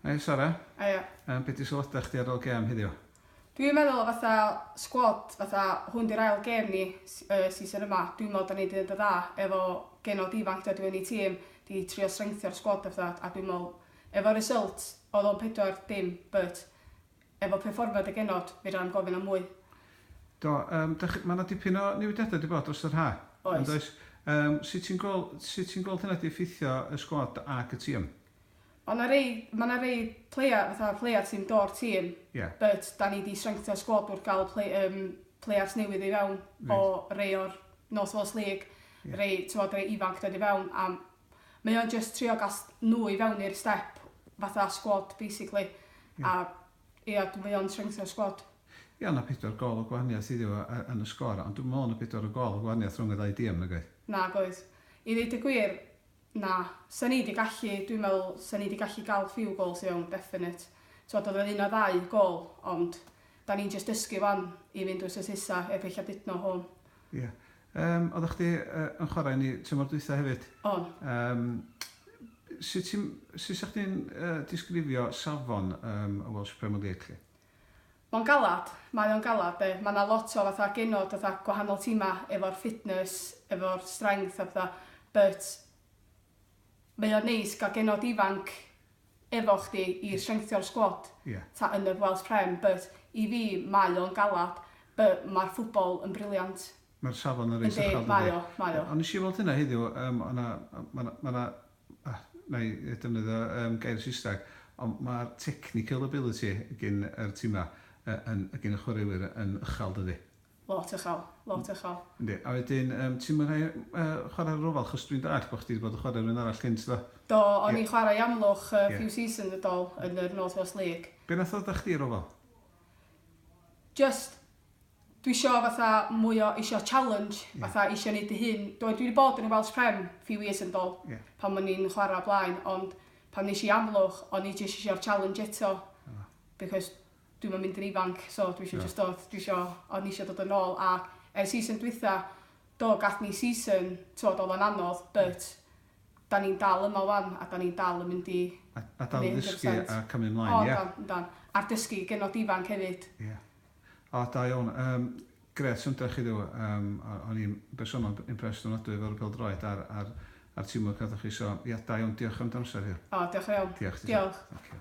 Hei Sara. Haia. Yym be' 'di sylwada chdi ar ol gêm heddiw? Dwi'n meddwl fatha sgwad fatha hwn 'di'r ail gêm ni s- y season yma dwi me'wl 'dan ni 'di neud yn dda efo genod ifanc dod i mewn i tîm 'di trio strengthio'r sgwad a petha a dwi me'wl efo result odd o'n pedwar dim but Efo perfformiad y genod, fedra-m gofyn am mwy. Do, yym, dach, ma' 'na dipyn o newidiadau 'di bod dros yr ha'. Oes. Yn does? Yym, sut ti'n gwel-, sut ti'n gweld hynna 'di effeithio y sgwad ag y tîm? Ma' 'na rei, ma' 'na rei playa-, fatha playa sy'n do'r tîm. Ie. But, 'da ni 'di strengtha sgwad wrth ga'l play-, yym, players newydd i fewn. Reit. O rei o'r North Wales League. Ie. Rei, t'mod, rei ifanc dod i fewn, a mae o'n jyst trio ga'l s- nw i fewn i'r step fatha sgwad basically a ia d- mae o'n strengthen'r sgwad. Ia o' 'na pedwar gôl o gwahaniaeth iddi fo yy yn y sgôr ond dwi'm yn me'wl o' 'na pedwar o gôl o gwahaniaeth rhwng y ddau dîm nag oedd? Nag oedd. I ddeud y gwir, na. Sa ni 'di gallu dwi'n me'wl sa ni 'di gallu ga'l few goals i fewn definate. T'mod odd o'n un o ddau gôl ond 'dan ni'n jyst dysgu 'wan i fynd wsos nesa heb ella didno home. Ia. Yym, oeddach chdi yy yn chwarae yn 'i tymor dwytha hefyd. O'n. Yym, sut ti'n, sut 'sech chdi'n yy disgrifio safon yym y Welsh Premier League 'lly? Ma'n galad, mae o'n galad 'de. Ma' 'na lot o fatha genod fatha gwahanol tima efo'r fitness, efo'r strength a petha but Mae o'n neis gael genod ifanc efo chdi i strengthio'r sgwad ta yn yr Welsh Prem but i fi mae o'n galad but mae'r ffwbol yn briliant. Mae'r safon yn reit uchel dydi? Yndi, mae o, mae o. Ond nes i weld hynna heddiw, yym o' 'na ma' 'na ma' 'na ah wna i ddefnyddio yym gair Saesneg ond ma'r technical ability gin yr timau yy yn gin y chwaraewyr yn uchel dydi? Lot uchel, lot uchel. Yndi, a wedyn yym ti'm yn rhoi yy chwarae ar yr ofal achos dwi'n dallt bo' chdi 'di bod yn chwarae rywun arall cynt do? Do, o'n i'n chwarae i Amlwch yy few seasons yn dol yn yr North West League. Be' nath ddod â chdi i'r ofal? Jyst dwi isio fatha mwy o isio challenge fatha isio neud dy hun dwi wedi bod yn y Welsh Prem few years yn dol pan o'n i'n chwara o blaen ond pan nesh i i Amlwch o'n i jyst isio'r challenge eto because dwi'm yn mynd yn ifanc so dwi isio jyst dod dwi isio o'n i isio dod yn ôl a ers season dwitha do gath ni season t'wod odd o'n anodd but 'dan ni'n dal yma 'wan a 'dan ni'n dal yn mynd i... A a dal i ddysgu a cymryd mlaen ia? O yndan yndan a dysgu genod ifanc hefyd. Ia. O da iawn yym grêt syndod chi ddo yym o- o'n i'n bersonol impressed ofnadwy efo'r pêl-droed a'r a'r a'r teamwork nathoch chi so ia da iawn diolch am dy amser heddiw. O diolch yn fawr. Diolch. Diolch. Thank you.